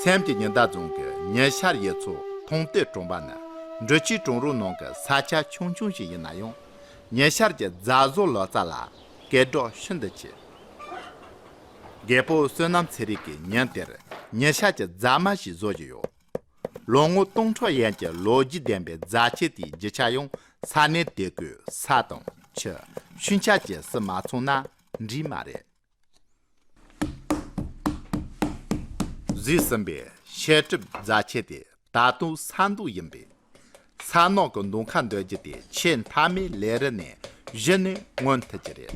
སེམས་ཀྱི་ཉི་ཟླ་རྫོང་གི་ཉི་ཤར་ཡས་མཚོ་མཐོང་སྟེ་གྲོང་པ་ནི་འབྲི་ཆུའི་གྲོང་རོགས་ནང་གི་ས་ཆ་ཆུང་ཆུང་ཞིག་ཡིན་ན་ཡང་ཉི་ཤར་གྱི་རྫ་བཟོ་ལོ་ཙཱ་ལ་སྐད་སྒྲོག་ཤིན་ཏུ་ཆེ། རྒད་པོ་བསོད་ནམས་ཚེ་རིང་གིས་ཉིན་དེར་ཉི་ཤར་གྱི་རྫ་མ་ཞིག་བཟོ་བཞིན་ཡོད། ལོ་ངོ་སྟོང་ཕྲག་ཡན་གྱི་ལོ་རྒྱུས་ལྡན་པའི་རྫ་ཆས་དེའི་བརྗིད་ཆགས་ཡང་ས་གནས་དེ་གའི་ས་དང་ཆུ་ཤུན་ཆགས་ཀྱི་སྲིད་མ་ཚོང་ན་འགྲིག་མ་རེད། བཟོས་ཟིན་པའི་བཤད་སྒྲུབ་རྫ་ཆས་དེ་ད་དུང་ས་མདོ་ཡིན་པས། ས་ནག་གི་མདོ་ཁ་འདོན་རྒྱུ་དེ་ཆེས་མཐའ་མའི་ལས་རིགས་ནས་གཞི་ནས་མངོན་ཐུབ་ཀྱི་རེད།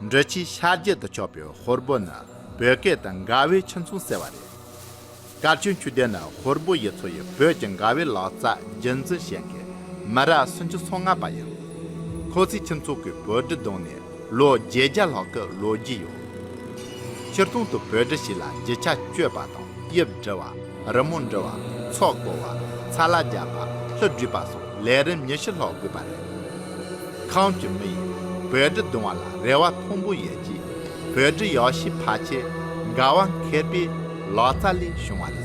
འབྲི་ཆུའི་ཤར་རྒྱུད་དུ་ཕྱོགས་པའི་ཧོར་སྦུ་ནི་བོད་སྐད་དུ་འགའ་བོའི་ཆུ་མཚུངས་ཟེར་བ་རེད། སྐར་ཆུང་ཆུ་ལྡན་ནི་ཧོར་སྦུ་ཡི་ཚོ་ཡི་བོད་ཀྱི་འགའ་བོའི་ལག་རྩལ་རྒྱུན་འཛིན་བྱེད་མཁན་མི་རབས་སུམ་ཅུ་སོ་ལྔ་པ་ཡིན། ཁོ་ཚོའི་ཁྱིམ་ཚོགས་ཀྱི་བོད་འབྲི་རྡུང་ནས་ལོ་བརྒྱད་བརྒྱ་ལྷག་གི་ལོ་རྒྱུས་ཡོད། ཕྱིར་གཏོང་དུ་བོད་འབྲི་ཞིག་ལ་བརྗིད་ཆགས་སྤྱོད་པ་དང་དབྱིབས་འབྲི་བ། རི་མོ་འབྲི་བ། ཚོགས་བསྐོར་བ། ཚ་ལ་རྒྱ་བ། ལྷུ་བྲིས་པ་སོགས་ལས་རིམ་ཉི་ཤུ་ལྷག་དགོས་པ་རེད། ཁམས་ཀྱི་མི་ཡིས་བོད་གྲི་བརྡུང་བ་ལ་རེ་བ་མཐོན་པོ་ཡོད་ཀྱི། བོད་གྲི་ཡག་ཤོས་ཕ་ཆེ་དགའ་བ་མཁས་པའི་ལག་རྩལ་ལས་བྱུང་བ་རེད།